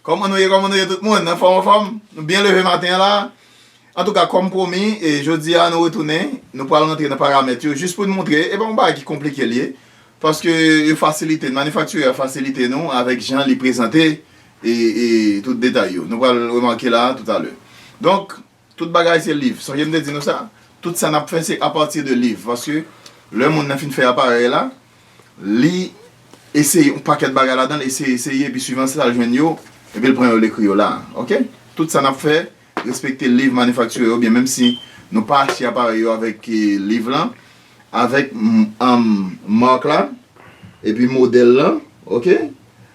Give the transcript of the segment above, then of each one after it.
Kòman nou ye kòman nou ye tout moun anfòm anfòm nou byen leve maten an la antouka kòm pwomi e jodi a nou retounen nou pral rantre nan paramèt yo jis pou n montre e pa yon bagay ki konplike l ye paske yo fasilite n manifaktirè a fasilite nou avèk jan li prezante e tout detay yo nou pral remake la toutalè donk. Tout bagay se liv, sonje m te di nou sa, tout sa nap fè se apati de liv, paske lè moun nan fin fè aparèy la, li eseye yon pakèt bagay ladan l, eseye eseye epi swivan sa l jwenn yo, epi l pran yo l ekri yo la, ok, tout sa nap fè respekte liv manifaktire yo byen menm si nou pa achte aparèy yo avèk liv lan, avèk mark la epi modèl lan ok.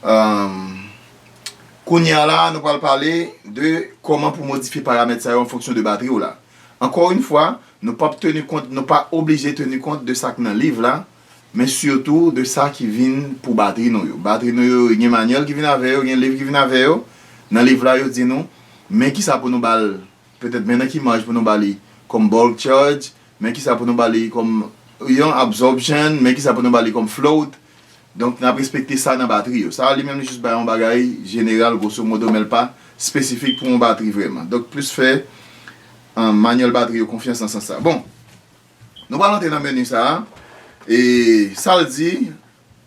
Umm Kounye a la nou pral pale de kòman pou modifye paramèt sa yo an fonksyon de batri w la. Ankò yn fwa, nou pap tenu kont, nou pa oblije tenu kont de sa k nan liv la, men sitou de sa ki vin pou batri nou yo. Batri nou yo gen manyèl ki vin avè yo, gen liv ki vin avè yo. Nan liv la yo di nou men kisa pou nou ba l, petèt men nan ki maj pou nou ba li kòm bulk charge, men kisa pou nou ba li kòm yon absorption, men kisa pou nou ba li kòm float. Donk nap respekte sa nan batri yo. Sa a li menm li jis bay yon bagay jeneral gwoso modo men l pa espesifik pou yon batri vrèman. Donk plis fè manyèl batri yo konfyans nan sans sa. Bon, nou pral antre nan meni sa a. E sa l di,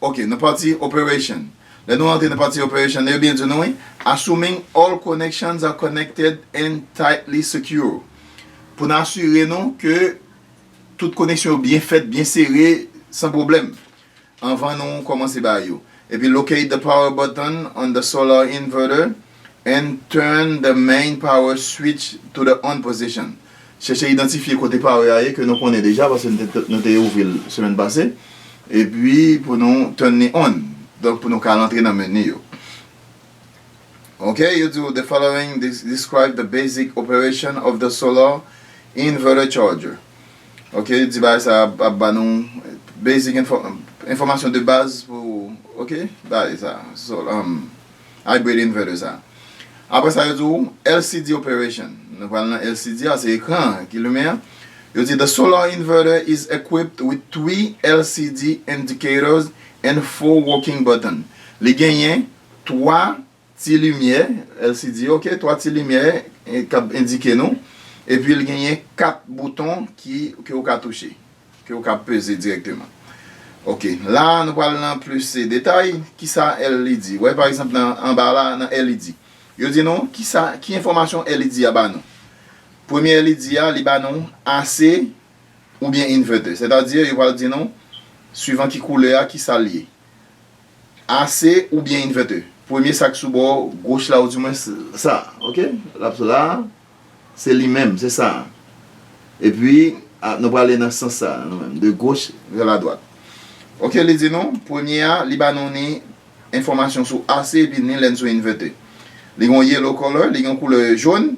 ok nan pati operation. Lè nou antre nan pati operation li yo byen di nou wi, assuming all connections are connected and tightly secure. Pou nou asire nou ke tout koneksyon yo byen fèt, byen sere, san pwoblèm. Anvan nou komanse ba yo. Epi locate the power button on the solar inverter and turn the main power switch to the on position. Chèche idantifye kote power a ye ke nou konnen deja paske nou te ouvri l semèn pase. Epi pou nou turn li on. Donk pou nou ka rantre nan menu yo. Ok, yo di ou the following describe the basic operation of the solar inverter charger. Ok di bagay sa ap ba nou basic enfòmasyon de baz pou ok bagay sa hybrid inverter sa apre sa yo di ou LCD operation nou pral nan LCD a se ekran an ki limen an yo di the solar inverter is equipped with 3 LCD indicators and 4 working button li genyen 3 Ti limyè, LCD, ok, 3 ti limyè k ap endike nou. Epi l genyen 4 bouton ke ou ka touche, ke ou ka peze dirèkteman. Ok, la a nou pral nan plis detay, ki sa LED? Wè pa egzanp nan anba la a, nan LED. Yo di nou ki sa, ki enfòmasyon LED a ba nou. Premye LED a, li ba nou AC oubyen inverter. Sètadi yo pral di nou, swivan ki koulè a, ki sa l ye. AC oubyen inverter. Premye sak sou bò goch la ou di mwen sa ok lap sou la se li menm se sa epi nou pral ale nan sans sa nou menm de goch vè la dwat ok li di nou premye a li ba nou ni enfòmasyon sou AC epi ni lèn sou inverter li gon yellow color li gon koulè jòn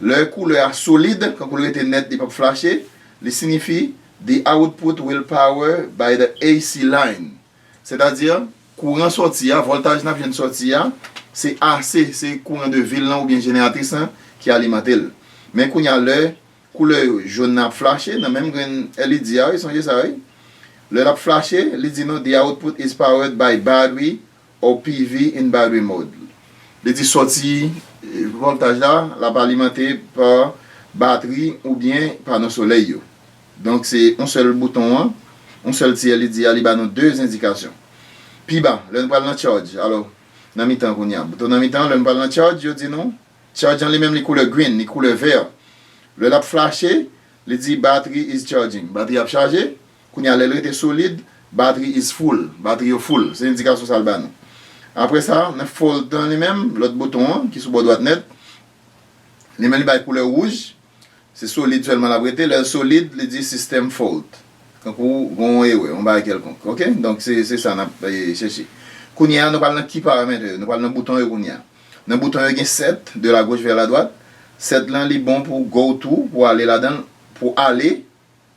lè koulè a solid kankou l rete nèt li pap flache li sinifi the output will power by the AC line Sètadi, kouran sòti a, vòltaj n ap jwenn sòti a, se AC, se kouran de vil lan oubyen jeneratris lan ki alimante l. Men kounye a lè koulè jòn nan ap flache nan menm grenn LED a wi, sonje sa wi. Lè l ap flache, li di nou the output is powered by battery or PV in battery mode. Li di sòti vòltaj la, l ap alimante pa batri oubyen pano solèy yo. Donk se yon sèl bouton an, yon sèl ti LED a li ba nou 2 endikasyon. Pi ba, lè nou pral nan charge, alò nan mitan kounye a, bouton nan mitan an lè nou pral nan charge yo di nou, charge an li menm li koulè green, li koulè vert. Lè lap flache, li di battery is charging, batri ap chaje, kounye a lèl rete solid, battery is full, batri yo full, se endikasyon sal ba nou. Aprè sa, nan fold lan li menm, lòt bouton an ki sou bò dwat nèt, li menm li bay koulè rouge, Se solid sèlman l ap rete. Lè l solid, li di system fault. Tankou gen yon erè, yon bagay kèlkonk. Ok? Donk, se sa n ap chèche. Kounye a, nou pral nan Key Parameter yo. Nou pral nan bouton yo kounye a. Nan bouton yo gen set, de la gauche vers la droite. Set lan li bon pou go to, pou ale ladan l, pou ale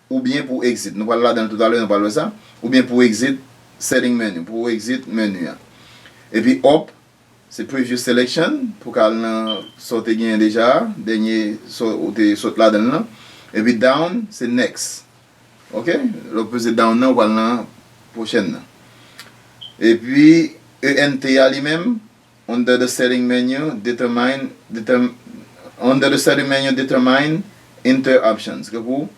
Oubyen pou exit, nou pral ladan l toutalè nou pral wè sa, oubyen pou exit setting menu, pou ou exit menu an. Epi up se previous selection, pou ka al nan sa w te genyen deja a, dènye sa ou te sot ladan l lan. Epi down se next. Ok, lè w peze down nan ou pral nan pwochèn nan. Epi ENT a li menm. Under the setting menu, determine Under the setting menu, determine Enter options Gen pou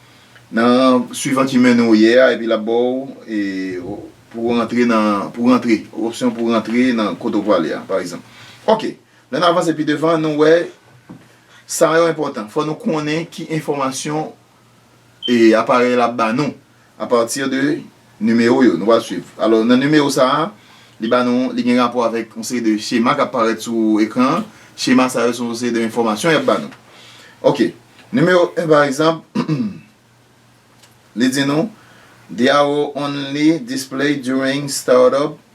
nan Suivan ki menu ou ye a epi l ap ba w e Pou w rantre nan Pou w rantre Opsyon pou w rantre nan kote w prale a pa egzanp Ok Lè n avanse pi devan nou wè Sa yo enpòtan Fò nou konnen ki enfòmasyon e aparèy la ap ba nou a pati de nimewo yo nou pral swiv. Alò nan nimewo sa a, li ba nou, li gen rapò avèk yon seri de chema k ap parèt sou ekran an. Chema sa yo se yon seri de enfòmasyon y ap ba nou. Ok, nimewo 1 pa egzanp, li di nou, The arrow only display during startup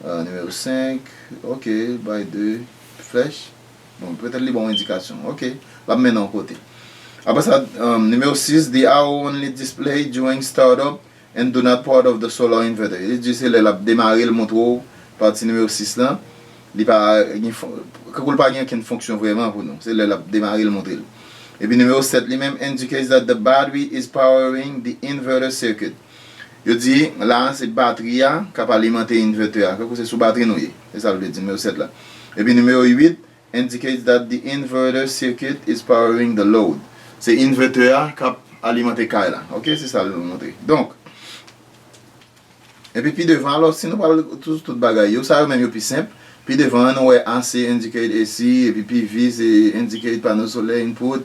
Nimewo 5, ok, bay 2 flèch. Bon, petèt li ba w endikasyon. Ok, l ap mennen w kote. Apre sa, nimewo 6, The arrow only display during startup and do not part of the solar inverter. Li di se lè l ap demare l montre w pati nimewo 6 lan. Li pa gen, kankou l pa gen okenn fonksyon vrèman pou nou. Se lè l ap demare l montre l. Epi nimewo 7 li menm indicates that the battery is powering the inverter circuit. Yo di, la a, se batri a k ap alimante inverter a, tankou se sou batri nou ye. Se sa l vle di, nimewo 7 la. Epi nimewo 8, indicates that the inverter circuit is powering the load. Se inverter a k ap alimante kay la. Ok, se sa l montre. Donk, epi pi devan, alò, si nou pral sou tout bagay yo, sa yo menm yo pi senp. Pi devan an, nou wè AC indicate AC, epi PV se indicate panneau solaire input.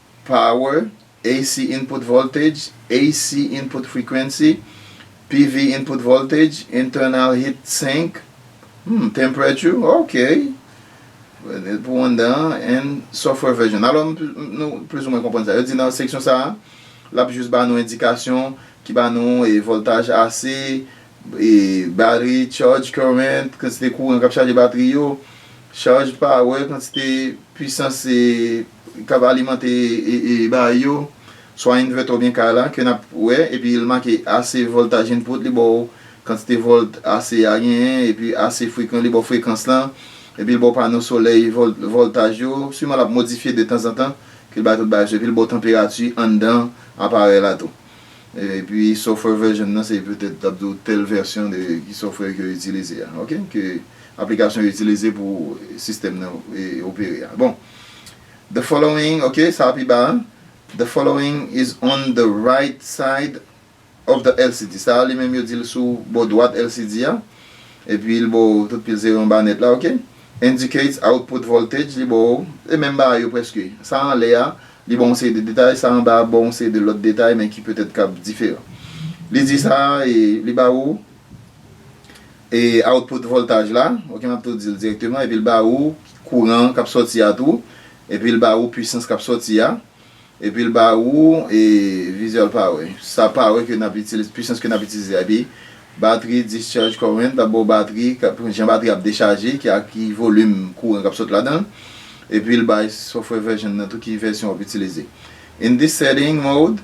Power, AC input voltage, AC input frequency, PV input voltage, internal heat sink, hmm, temperature, ok, pou anndan an, and software version. Alò, nou plis ou mwen konprann sa. Yo di nan seksyon sa a, l ap jis ba nou endikasyon ki ba nou e voltaj AC, e battery charge current, kantite kouran k ap chaje batri yo, charge power, kantite pwisans e k ap alimante baay yo, swa invètè oubyen kay la, ke n ap wè, epi l make AC voltaj input li ba w kantite volt AC a genyen, epi AC frekan li ba w frekans lan, epi l ba w pano solèy voltaj yo, siman l ap modifye detanzantan, ke l bay tout bagay sou, epi l ba w tanperati anndan aparèy la tou. Epi software version nan se petèt l ap di w tèl vèsyon de ki software ke yo itilize a, ok, ke aplikasyon yo itilize pou sistèm nan opere a. Bon. The following, ok, sa a pi ba a. The following is on the right side of the LCD. Sa a li menm yo di l sou bò dwat LCD a. Epi l ba w tout pil zero anba nèt la, ok. Indicates output voltage, li ba w, se menm bagay yo prèske. Sa a anlè a, li ba w yon seri de detay, sa a anba a ba w yon seri de lòt detay men ki petèt kab diferan. Li di sa a e li ba ou. E output voltaj la, ok map tou dil direkteman epil ba ou kouran kap sòti a tou, epil ba ou pwisans kap sòti a, epil ba ou e visual power sa power ke nap itilize pwisans ke nap itilize a epi batri discharge current lap baw batri jan batri ap dechaje ki ak ki volum kouran kap sot ladanl epil bay software version nan tou ki vèsyon wap itilize in this setting mode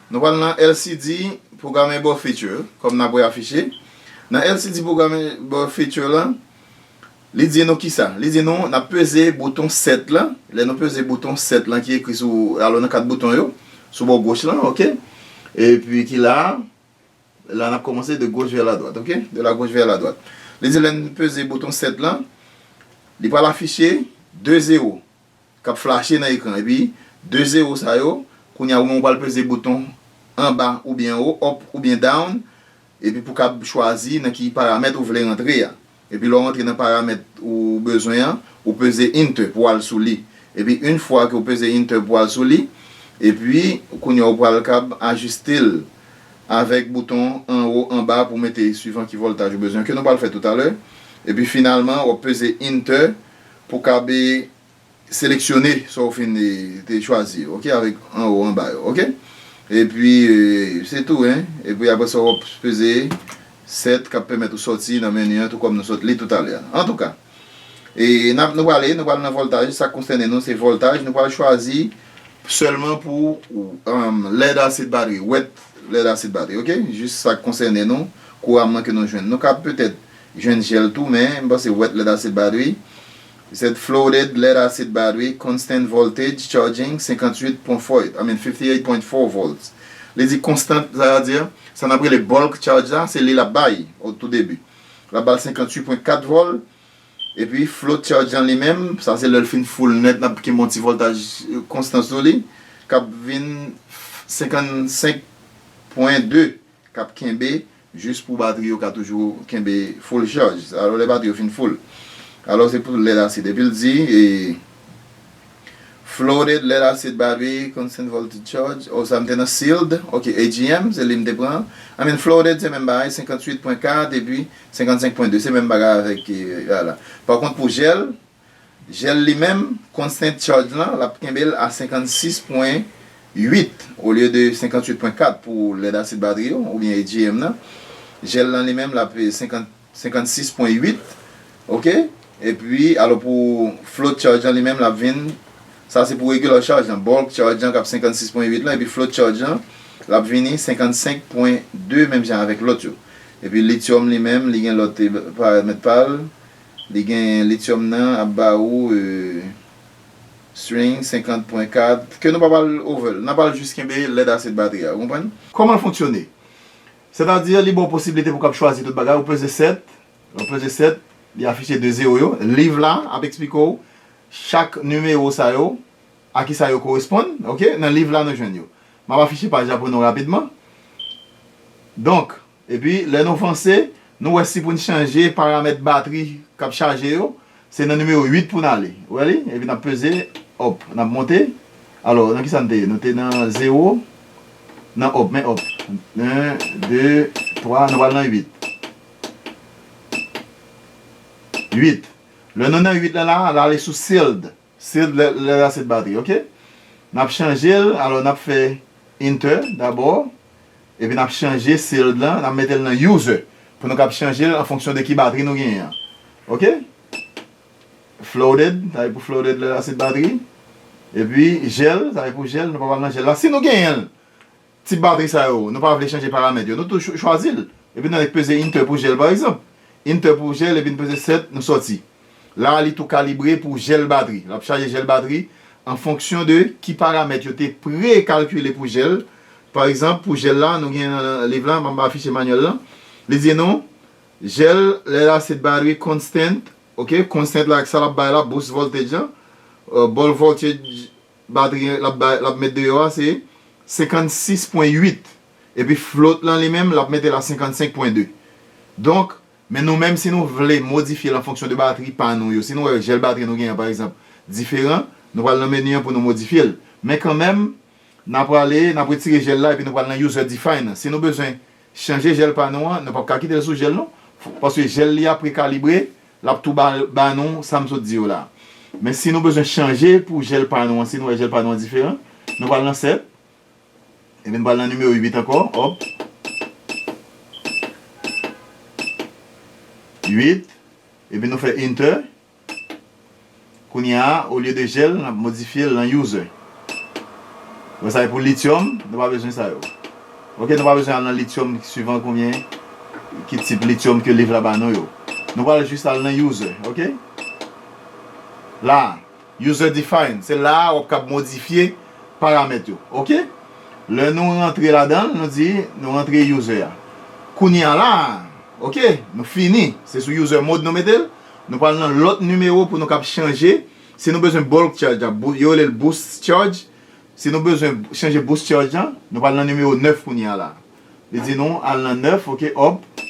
Nou pral nan LCD Programmable Feature, kòm n ap wè afiche. Nan LCD Programmable Feature la, li di nou ki sa? Li di nou n ap peze bouton Set la. Lè nou peze bouton Set la ki ekri sou, alò nan kat bouton yo, sou bò goch lan, ok. Epi ki la a. La a n ap kòmanse de goch vè la dwat, ok. De la goch vè la dwat. Li di lè n peze bouton Set la, li pral afiche 2 zewo. kap flache nan ekran epi 2 zero sa yo kounya ou menm ou pral peze bouton anba oubyen anwo up oubyen down epi pou kab chwazi nan ki paramèt ou vle rantre a epi lè w rantre nan paramèt ou bezwen an ou peze enter pou al sou li epi yn fwa ke ou peze enter pou al sou li epi kounya ou pral kab ajiste l avèk bouton anwo anba pou mete swivan ki voltaj ou bezwen ke nou pral fè toutalè epi finalman wap peze enter Pou kab e seleksyone sa ou fin e te chwazi yo ok avèk anwo anba yo ok epi e se tou hein epi aprè sa wap peze 7 kap pèmèt ou sòti nan meni an tou kòm nou sòt li toutalè an antouka e nap nou prale nou pral nan vòltaj sak konsène nou se vòltaj nou pral chwazi sèlman pou uhm lèd asid batri wet lèd asid batri ok jis sak konsène nou kouramman ke nou jwenn nou kab petèt Jwenn jel tou men m panse wet led acid bad wi he said floated led acid bad wi constant voltage charging 58 pwen foit I mean 58 point 4 volts li di constant sa a dire sa nap rele bulk charge la se li lap bay au tout début lap bal 58 pwen 4 vol epi float charge lan li menm sa se lel fin full net nap kenbe yon ti voltaj constant sou li kap vin 55 pwen 2. k ap kenbe jis pou batri yo ka toujou kenbe full chaj alò lè batri yo fin full alò se pou lead acid epi l di e floated lead acid battery constant voltage charge o sa m te nan sealed ok AGM se li m te pran I mean floated se menm bagay 58 pwen 4 epi 55 pwen 2 se menm bagay avèk e a la pa kont pou gel Jel li menm kont Saint Charge lan lap kenbel a 56 pwen 8 olye de 58 pwen 4 pou lèd asid batri yo oubyen AGM nan jel lan li menm lap 50 56 pwen 8 ok epi alò pou Float Charge lan li menm lap vin sa se pou Regular Charge lan Bulk Charge lan kap 56 pwen 8 lan epi Float Charge lan lap vini 55 pwen 2 menm jan avèk lòt yo epi Lithium li menm li gen lòt paramèt pal. Li genyen lithium nan ap ba ou string 50 pwen kad ke nou pa pral over l, n ap al jis kenbe led asid batri a, ou konprann? Kòman l fonksyone? Sètadi li ba w posiblite pou w kab chwazi tout bagay, ou peze 7, lè w peze 7 li afiche 2 zero yo, liv la ap eksplike w chak nimewo sa yo a kisa yo koresponn ok, nan liv la nou jwenn yo. M ap afiche paj la pou nou rapidman donk. Epi lè nou vanse, nou wè si pou n chanje paramèt batri k ap chaje yo, se nan nimewo 8 pou n ale. Ou wè li? Epi n ap peze, Up, n ap monte. Alò, nan kisa n te ye? Nou te nan zewo, nan Up, men Up. 1, 2, 3, nou pral nan 8. 8. Lè nou nan 8 lan la a, l ale sou Sealed. Sed lè lè la sed batri ok nap chanjel alò nap fè enter dabò epi nap chanje sed lan nap metel nan user pou nou kab chanjel an fonksyon de ki batri nou genyen an ok flooded sa se pou flooded lè la sed batri epi gel sa se pou gel nou pa pral nan gel la si nou genyenl Tip batri sa yo, nou pa vle chanje paramèt yo, nou tou chwazi l. Epi nou annik peze inter pou jèl pa egzanp. Inter pou jèl epi n peze 7, nou sòti. La a li tou kalibre pou jèl batri. L ap chaje jèl batri an fonksyon de ki paramèt yo te pre-kalkile pou jèl. Pa egzanp, pou jèl la, nou gen nan liv la, m ap afiche manyèl lan, li di nou, Jèl, lè l a se batri constant, ok, constant la ak sa l ap bay la, boost voltage an, ball voltage, Batri an lap bay, lap met deyò a se 56 pwen 8. Epi float lan li menm lap metel a 55 pwen 2. Donk, men nou menm si nou vle modifyel an fonksyon de batri pa nou yo. Si nou wè jèl batri nou genyen an pa egzanp diferan, nou pral nan menu an pou nou modifyel. Men kanmenm, na prale, nap retire jèl la epi nou pral nan user define an. Si nou bezwen Chanje jèl pa nou an, nou pap ka kitel sou jèl nou, paske jèl li a prekalibre, lap tou ba ba nou sam sot di yo la. Men si nou bezwen chanje pou jèl pa nou an, si nou wè jèl pa nou an diferan, nou pral nan 7, epi nou pral nan nimewo 8 ankò, hop, 8, epi nou fè enter. Kounya olye de jel nap modifyel nan user. Bon sa e pou lithium nou pa bezwen sa yo. Ok nou pa bezwen al nan lithium suivant konbyen ki tip lithium ke liv la ba nou yo. Nou pral jis al nan user ok. La user define se la wap kab modifye paramèt yo ok. Le nou rantre ladanl nou di nou rantre user a. Kounya la ok nou fini se sou user mode nou metel. Nou pral nan lòt nimewo pou nou kab chanje si nou bezwen bulk charge la yo rele l boost charge si nou bezwen chanje boost charge la nou pral nan nimewo 9 kounye a la li di nou al nan 9 ok òp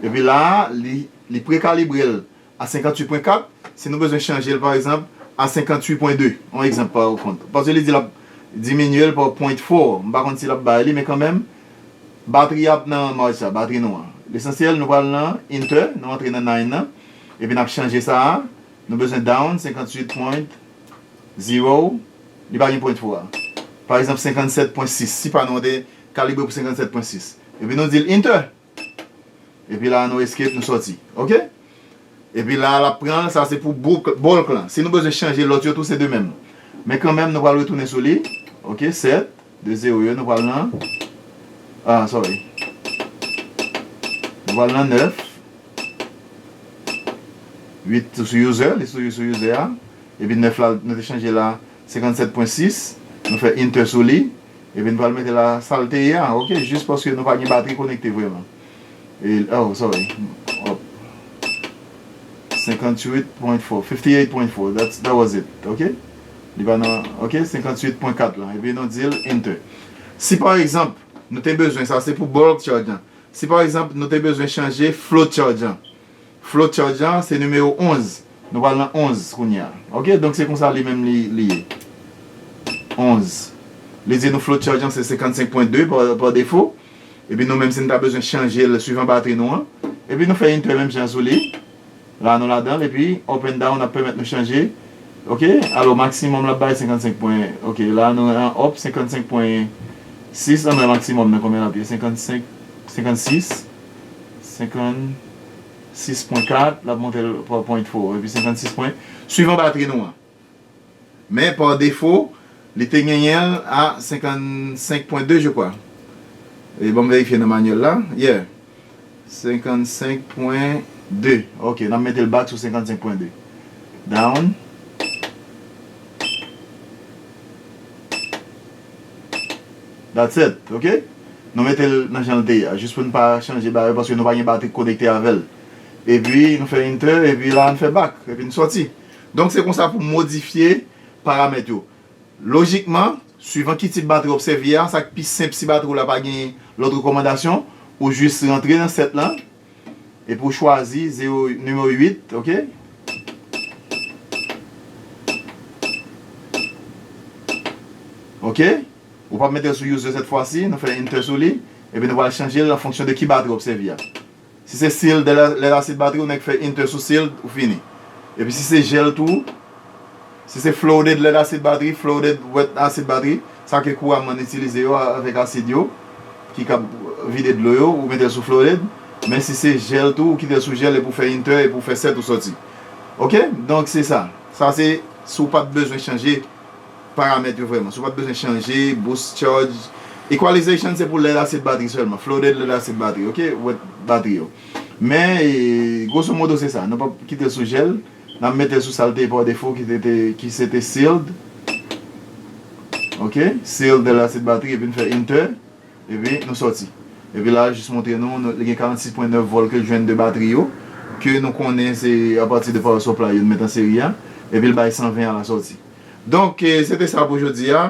epi la a li li prekalibre l a 58 pwen 4 si nou bezwen chanje l pa egzanp a 58 pwen 2 on egzanp pa ou kont paske li di l ap diminye l pa pwent 4 m pa konn si l ap bay li men kanmenm Batri ap nan March sa, batri nou an. Lesansyèl nou pral nan Inter, nou antre nan Nine nan, epi nap chanje sa a, nou bezwen Down 58 point zero, li pa gen point pou a. Pa egzanp 57 pwen 6, si pa nou an te kalibre pou 57 pwen 6. Epi nou dil Inter! Epi la a nou Escape nou sòti. Ok? Epi la a lap pranl sa se pou bouk bulk lan si nou bezwen chanje lòt yo tou se de menm men kanmenm nou pral retounen sou li ok 7 de 0 yo nou pral nan ah sorry nou pral nan 9 8 tou sou user li toujou sou user a epi 9 la nou te chanje la 57.6 nou fè enter sou li epi nou pral mete la sal te ye a ok jis paske nou pa gen batri konekte vrèman. Oh sorry up 58 point 4 58 point 4 that's that was it ok li pa nan ok 58 point 4 lan epi nou dil enter si pa egzanp nou te bezwen sa se pou bulk charge lan si pa egzanp nou te bezwen chanje float charge lan Flowchart jan an se nimewo 11. Nou pral nan 11 kounye a. Ok, donk se konsa li menm li ye. 11. Li di nou flowchart jan se 55 pwen 2 pa defo. Epi nou menm si nou ta bezwen chanje l swivan batri nou an. Epi nou fè enter menm jan an sou li. La nou ladan l epi up and down ap pèmèt nou chanje. Ok, alò maksimòm l ap bay 55 pwen. Ok, la nou an up 55 pwen 6. Ann wè maksimòm nan konbyen l ap ye. 55, 56, 50. 6.4, lap montre l pa pwen fo epi 56 pwen, swivan batri nou an. Men pa defo, li te genyen l a 55.2 je kwa. E banm verifye nan manyèl la, yeah 55.2, ok nap mete l back sou 55.2, down. That's it ok nou metel nan janl te ye a jis poun pa chanje bagay yo paske nou pa gen batri k konekte avèl epi nou fè enter epi la an fè back epi n sòti donk se konsa pou modifye paramèt yo lojikman swivan ki tip batri wap sèvi a sak pi senp si batri w la pa gen lòt rekòmandasyon ou jis rantre nan set lan. Epi ou chwazi zero nimewo 8 ok. Ok ou pap metel sou user sèt fwa si nou fè enter sou li epi nou pral chanjel an fonksyon de ki batri wap sèvi a si se sealed lè la seed batri ou nèk fè enter sou sealed ou fini epi si se gel tou Si se flooded led asid batri, flooded wet asid batri, sa ke kouran man itilize yo avek asid yo ki kab vide dlo yo ou metel sou flooded, men si se gel tou ou kitel sou gel epi ou fè yn tè epi ou fè 7 ou soti ok donk se sa, sa se si ou pat bezwen chanje paramèt yo vreman, si ou pat bezwen chanje boost charge, equalization se pou led asid batri selman, flooded led asid batri ok wet batri yo men grosso modo se sa, nou pap kitel sou gel. Nap metel sou sal te ye pa defo ki te te ki se te sealed ok sealed de la se batri epi nou fè enter epi nou sòti epi la jis montre nou li gen 46 pwen 9 vòl kel jwenn de batri yo ke nou konnen se apati de power supply yo nou met an seri a epil bay 120 a la sòti donk se te sa pou jodi a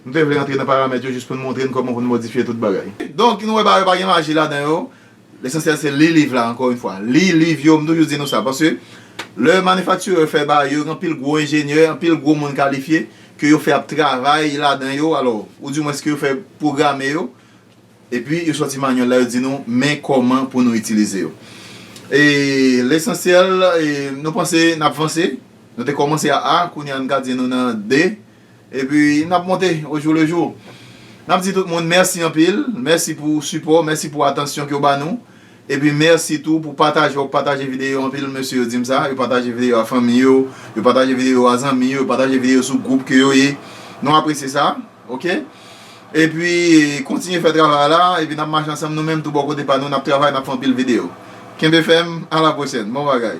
nou te vle antre nan paramèt yo jis poun montre nou kòman poun modifye tout bagay donk nou wè bagay yo pa gen maji ladan yo Lesansyèl se li liv la ankò yn fwa li liv yo m toujou di nou sa paske lè manifaktirè fè bagay yo gen anpil gwo enjenyè anpil gwo moun kalifye ke yo fè ap travay ladan yo alò ou di mwens ke yo fè pwograme yo epi yo sòti manyèl la yo di nou men kòman pou nou itilize yo e lesansyèl nou panse nap vanse nou te kòmanse a a kounye a n ka di nou nan de. Epi nap monte au jour le jour. Nap di tout moun mèsi anpil, mèsi pou sipò, mèsi pou atansyon ke w ba nou, epi mèsi tou pou pataje wap pataje videyo yo, anpil mesye yo dim sa, yo pataje videyo a fanmi yo, yo pataje videyo yo a zanmi yo, yo pataje videyo yo sou gwoup ke yo ye, nou apresye sa ok, epi kontinye fè travay la, epi nap mache ansanm nou menm tou bò kote pa nou nap travay nap fè anpil videyo, kenbe fèm a la pwochèn, bon bagay.